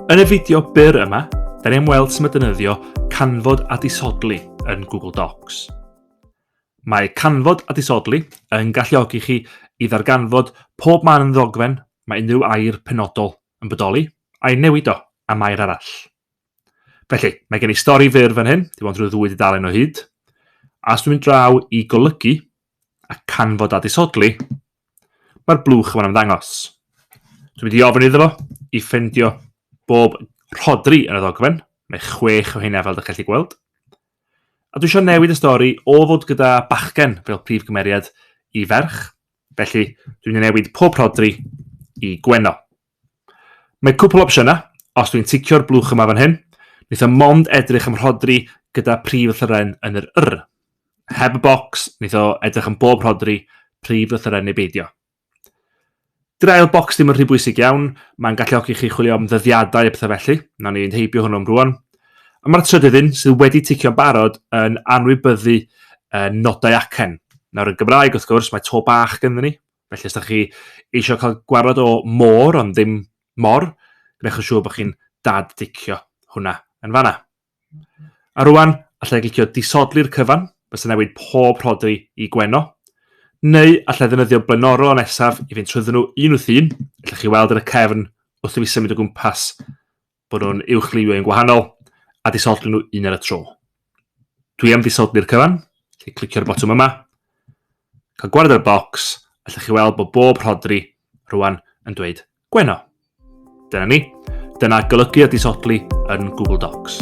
Yn y fideo byr yma, da ni'n weld sy'n dynyddio canfod a disodli yn Google Docs. Mae canfod a disodli yn galluogi chi i ddarganfod pob man yn ddogfen mae unrhyw air penodol yn bodoli, a'i newid o am air arall. Felly, mae gen i stori fyr fan hyn, dim ond rhyw ddwy dudalen o hyd. A os dwi'n mynd draw i golygu a canfod a disodli, mae'r blwch yma'n ymddangos. Dwi'n mynd i ofyn iddo fo i ffendio bob rhodri yn y ddogfen, mae chwech o hynna fel ydych chi'n gweld. A dwi eisiau newid y stori o fod gyda bachgen fel prif gymeriad i ferch. Felly, dwi'n mynd i newid pob rhodri i Gwenno. Mae cwpl o opsiynau, os dwi'n ticio'r blwch yma fan hyn, wnaethom mond edrych am rhodri gyda prif lythyren yn yr yr. Heb y bocs, wnaeth o edrych am bob rhodri, prif lythyren neu beidio. Dy'r ail bocs ddim yn rhy bwysig iawn, mae'n galluogi chi chwilio am ddyddiadau a pethau felly, na ni fynd heibio hwnnw am rwan. A mae'r trydydd un, sydd wedi ticio'n barod, yn anwybyddu uh, nodau acen. Nawr yn Gymraeg, wrth gwrs, mae to bach gyda ni, Felly os da chi eisiau cael gwarad o môr ond ddim mor, gwnewch yn siŵr bod chi'n dad dicio hwnna yn fanna. A rwan, allai glicio disodli'r cyfan, bys yn newid pob rhodri i gweno, neu allai ddefnyddio blaenorol nesaf i fynd trwyddyn nhw un wrth un, allai chi weld yn y cefn wrth i fi symud o gwmpas bod nhw'n uwchlywio yn gwahanol, a disodli nhw un ar y tro. Dwi am disodli'r cyfan, lle clicio'r botwm yma, cael gwared ar bocs, allwch chi weld bod bob rhodri rwan yn dweud gweno. Dyna ni. Dyna golygu a disodli yn Google Docs.